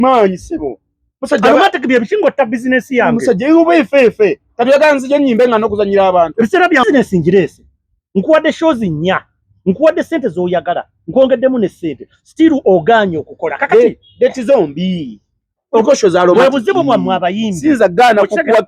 maanyi sebo aromatic bye bisinga otta bizinesi yange musajja yuba efeefe kati oyagala nzija nyimbe nga nokuzanyira abantu ebiseera bya bizinesi ngireese nkuwadde shows nnya nkuwadde sente zoyagala nkwongeddemu ne sente stiru ogaanye okukola kakati deti zombi okosho za aromatic webuzibu bwamwe abayimbi sinza gaana kukuwa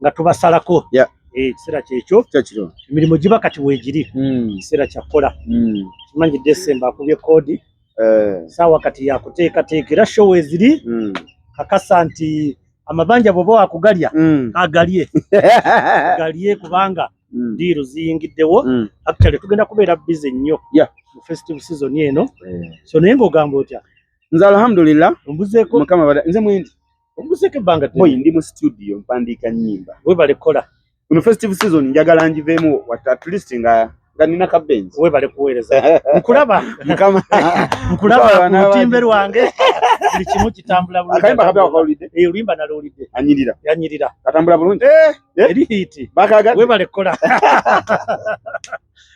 nga tubasalako yeah. Eh, ekiseera e, kyekyo emirimu giba kati weegiri hmm. ekiseera mm. kyakukola mm. kimanyi desemba akubye koodi eh. saawa kati yakuteekateeka era show eziri mm. kakasa nti amabanja bwoba wakugalya mm. agalye galye kubanga mm. diiru ziyingiddewo mm. actually tugenda kubeera bize nnyo yeah. mu festive season eno yeah. so naye ngaogamba otya nze alhamdulillah mbuzeeko mukama nze mwendi Omuseke ebbanga ddene. Boy ndi mu studio mpandiika nnyimba. Webale kola. Kuno festive season njagala njiveemu at least nga nga nina ka benzi. Webale kuweereza. Nkulaba. Mukama. Nkulaba ku lutimbe lwange. Buli kimu kitambula bulungi. Akayimba kabya wakawulidde. Eh oluyimba nalowulidde. Anyirira. Yanyirira. Katambula bulungi. Eh. eh? Eri hiiti. Bakaga. Webale kola.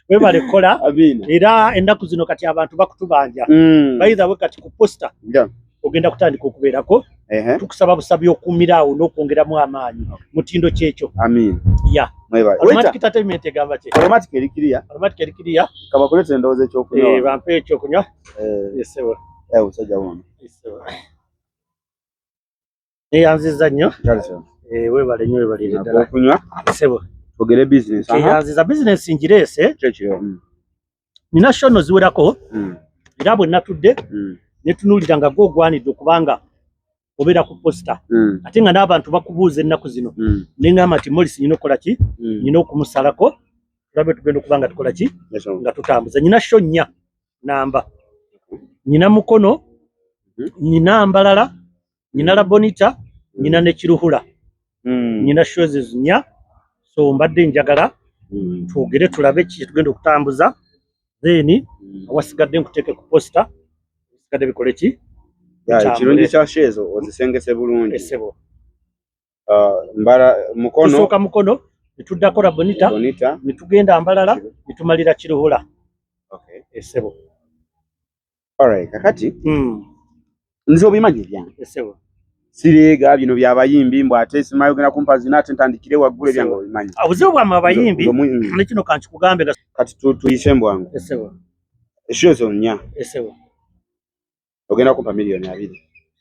webale kukola era ennaku zino kati abantu bakutubanja mm. baidha we kati ku posta yeah. ogenda kutandika okubeerako tukusaba busabi okumira awo n'okwongeramu amaanyi mutindo kyekyo amiin ya kabakuleta endowooza ekyokunywa eh, bampe ekyokunywa eh. esebo eh, usajja wono neyanziza nnyo eh, webale nnyo webalire ddala okunywa sebo ogere business keyanziza business ngireese kyekyo mm. nina shono ziwerako mm. era bwe natudde mm. netunuulira nga gwogwanidde okubanga obeera ku posita mm. ate nga n'abantu bakubuuza ennaku zino mm. nengamba nti molis nyina okukola ki mm. nyina okumusalako tulabe tugenda okuba nga tukola ki nga tutambuza nyina sho nnya namba nyina mukono mm-hmm. nyina mbalala nyina la bonita nyina ne kiruhula mm. nyina shows zinya so mbadde njagala mm. twogere tulabe ki kyetugenda okutambuza then mm. awasigadde nkuteeke ku posta ebisigadde bikole ki ekirungi kya shows ozisengese bulungi esebo uh, mbala mukono tusooka mukono netuddako la bonita netugenda mbalala netumalira kiruhula okay. esebo Alright, kakati mm. nze obimanyi byange esewa sireega bino byabayimbi mbu ate simayo genda kumpa zina ate ntandikire waggulu ebyange obimanyi obuzibu bwamwe abayimbi nekino kankikugambe kati tuyise mbwangu esewa eshiyo zonya esewa ogenda kumpa miliyoni abiri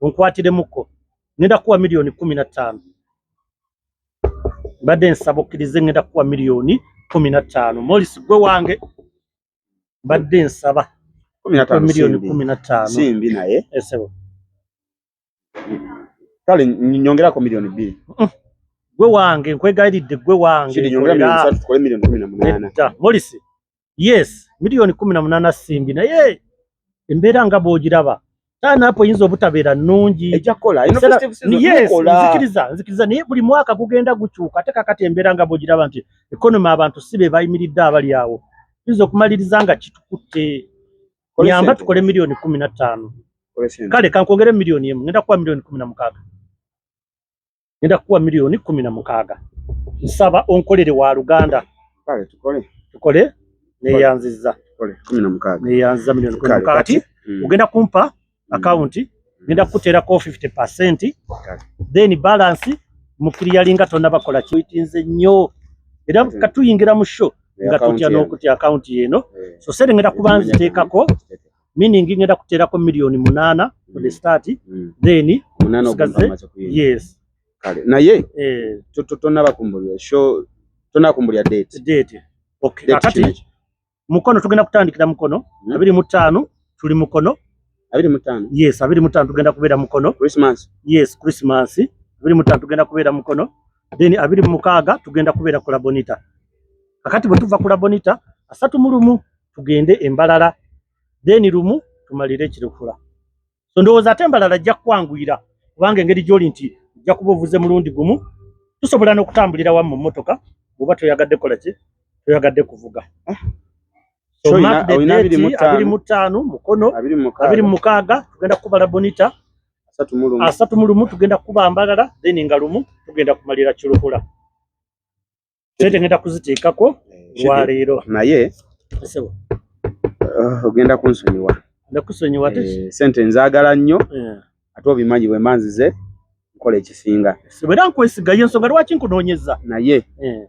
onkwatiremuko ngenda kuwa miliyoni kumi na ttaano mbadde nsaba okkirize ngenda kuwa miliyoni kumi na ttaano molisi gwe wange mbadde nsaba miliyoni kumi na ttaano simbi naye esebo eh, kale nyongerako miliyoni bbiri mm. gwe wange nkwegayiridde gwe wange molisi yes milioni kumi na munana simbi naye embeera nga bwogiraba taanapo yinza obutabeera nnungi nzikiriza nzikiriza naye buli mwaka gugenda gukyuka ate kakati embeera nga bwogiraba nti ekonoma abantu si be bayimiridde abali awo yinza okumaliriza nga kitukutte nyamba tukole milioni kumi na ttaano kale kankwongere milioni emu ngenda kuwa milioni kumi na mukaaga ngenda kukuwa miliyoni kumi na mukaaga nsaba onkolere wa luganda tukole neyanziza neyanziza miliyoni kumi na mukaaga ti hmm. ogenda kumpa hmm. akawunti ngenda kukuteerako 50 percent then balance mukiriyalinga tonabakola kiwitinze nnyo era hmm. katuyingira mu sho nga tutya n'okutya akawunti yeeno so serengera kuba nziteekako meaning ngenda kuterako million munana for the mm. start mm. then munana okumaza ku yes kale naye eh to to to naba kumbulya show to na kumbulya date date okay akati mukono tugenda kutandikira mukono mm. abiri mutano tuli mukono abiri mutano yes abiri mutano tugenda kubera mukono christmas yes christmas abiri mutano tugenda kubera mukono then abiri mukaga tugenda kubera kula bonita akati bwe tuva kula bonita asatu mulumu tugende embalala then lumu tumalire ekirikula so ndowooza ate embalala ajja kukwanguyira kubanga engeri gyoli nti ojja kuba ovuze mulundi gumu tusobola n'okutambulira wamu mu mmotoka bwoba toyagadde kola ki toyagadde kuvuga ah. abiri mu ttaano mukono abiri mu mukaaga tugenda kukubala bonita asatu mu lumu tugenda kukuba mbalala then nga lumu tugenda kumalira kirukula sente ngenda kuziteekako eh, lwaleero naye sebo uh, ogenda kunsonyiwa ndakusonyiwa ate eh, sente nzaagala nnyo eh. ate obimanyi bwe manzize nkola ekisinga era nkwesiga ye nsonga lwaki nkunoonyeza naye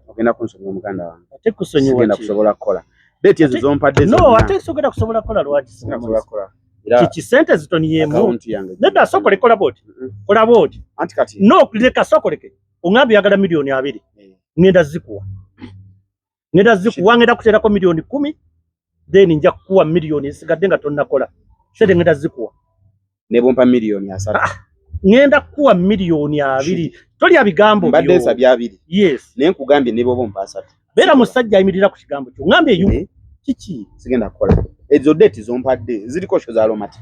ogenda kunsonyiwa muganda wange ate kusonyiwa genda kusobola kukola deeti ezo zompadde no ate sogenda kusobola kukola lwaki singa kusobola kukola kiki sente zitoniyeemu nedda sokolekolabooti kolabooti anti kati no leka sokoleke ong'amba oyagala miliyoni abiri eh. ngenda zikuwa ngenda zikuwa ngenda kuteerako miliyoni kumi then nja kukuwa miliyoni esigadde nga tonnakola sente ngenda zikuwa ne bumpa miliyoni asatu ah, ngenda kukuwa miliyoni abiri tolya bigambo mbadde nsabye abiri yes naye nkugambye ne bwoba ompa asatu beera musajja ayimirira ku kigambo kyo ng'amba eyu eh? kiki sigenda kukola ezo date zompadde ziriko sho za aromatic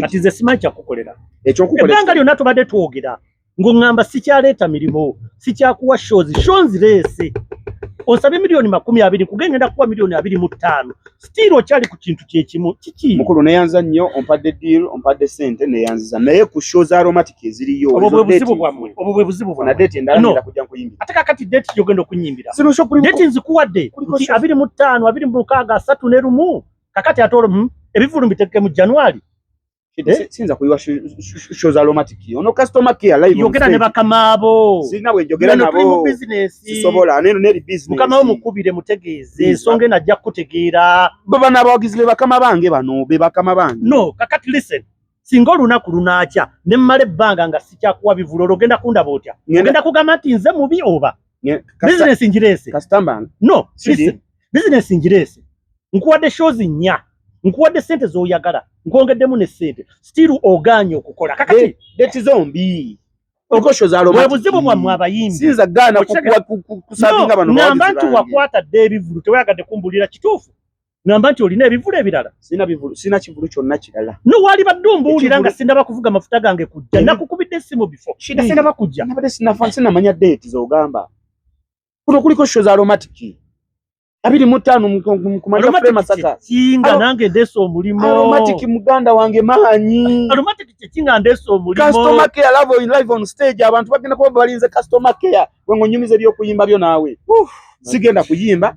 kati nze simanyi kyakukolera ebbanga lyonna tubadde twogera ng'oŋŋamba sikyaleeta mirimu sikyakuwa shozi sho nzireese osabye miliyoni makumi abiri kuge ngenda kuwa miliyoni abiri mu ttaano sitiiri okyali ku kintu kyekimu kiki mukulu neyanza nnyo ompadde diil ompadde sente neyanziza naye ku sho za aromatic eziriyo obwo bwe buzibu bwammwe obwo bwe buzibu bwammwe na deeti endala ngenda kujja nkuyimbira ate kakati deeti gyogenda okunyimbira deeti nzikuwadde nti abiri mu ttaano abiri mu mukaaga asatu ne lumu kakati ate olwo hmm, ebivulu mbiteeke mu january eh? sinza kuyiwa show za romantic ono customer care live yogera ne bakamaabo sina bwe jogera nabo business sisobola neno ne business mukama wo mukubire mutegeeze ensonga ena ajja kukutegeera baba nabawagizi be bakama bange bano be bakama bange no kakati listen singa olunaku lunaakya ne mmala ebbanga nga sikyakuwa bivulu olwo ogenda kundaba otya ogenda kugamba nti nze mubi oba bizinesi ngireese no bizinesi ngireese nkuwadde shows nnya nkuwadde sente z'oyagala nkwongeddemu ne sente stiru ogaanye okukola kakati deti zombi obuzibu bwammwe abayimbiamba nti wakwata dde ebivulu tewayagadde kumbulira kituufu ngamba nti olina ebivulu ebirala sina bivulu sina kivulu kyonna kirala no wali badde ombuulira nga sinaba kuvuga mafuta gange kujja nakukubidde esimu bifo shida sinaba kujja nabadde sinafa sinamanya date zogamba kuno kuliko sho za aromatic abiri mu ttaano kumanya fule masaka kinga nange ndeesa omulimu aromatic muganda wange maanyi aromatic kyekinga ndeesa omulimu customer care love in live on stage abantu bagenda kuba balinze customer care wengo nyumiza ebyokuyimba byo naawe sigenda kuyimba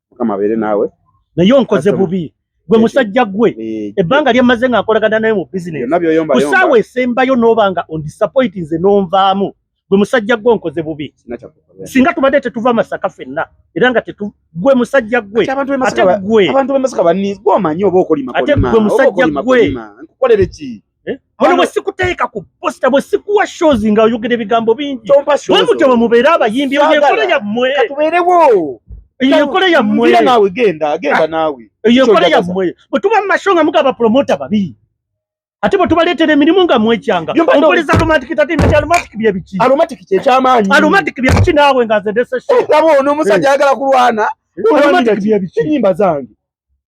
mukama abeere naawe naye onkoze bubi gwe musajja gwe eh, ebbanga eh. lyemmaze nga nkolagana naye mu bizinesikusaawa esembayo nooba nga ondisappointi nze nonvaamu gwe musajja gwe onkoze bubi singa tubadde tetuva masaka fenna era nga gwe musajja gwe ate gwe musajja gwe Eh? Wano mwe sikuteeka ku posta mwe sikuwa shows nga oyogera ebigambo bingi bwe mutyo bwe mubeera abayimbi eyo enkola yammwe katubeerewo eyo enkola yammwe naawe genda genda ah, naawe eyo enkola yammwe bwe tuba mu masho nga mugaba promota babi ate bwe tubaleetera emirimu nga mwekyanga ompuleza aromatic tatimit aromatic byebiki aromatic kyekyamaanyi aromatic byebiki naawe nga zedesesho eh, laba ono omusajja eh. ayagala kulwana aromatic byebiki enyimba zange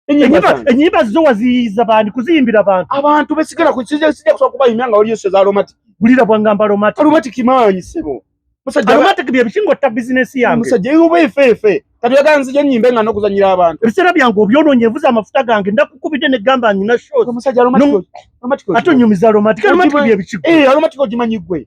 enyimba zo waziyiza bandi kuziyimbira bantu abantu besigala kukija sija kusaba kuba imyanga waliyo seza aromatic bulira bwangamba aromatic aromatic maanyi sebo musajja aromatic bye bishingo ta business yange musajja yuba ifefe kati yaga nzije nyimbe nga nokuzanyira abantu bisera byangu obyononye vuza amafuta gange ndakukubide ne gamba nyina show musajja aromatic aromatic atonyumiza aromatic aromatic bye bishingo eh aromatic ojimanyi gwe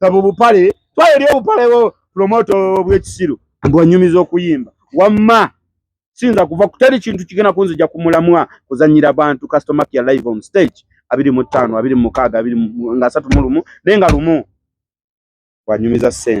saba obupale twala eri obupale bwo promoto bwekisiru mbu anyumiza okuyimba wamma siyinza kuva kutali kintu kigenda kunzija ku mulamwa kuzanyira bantu customer care live on stage abiri mu ttaano abiri mu mukaaga abiri nga asatu mu lumu naye nga lumu wanyumiza ssente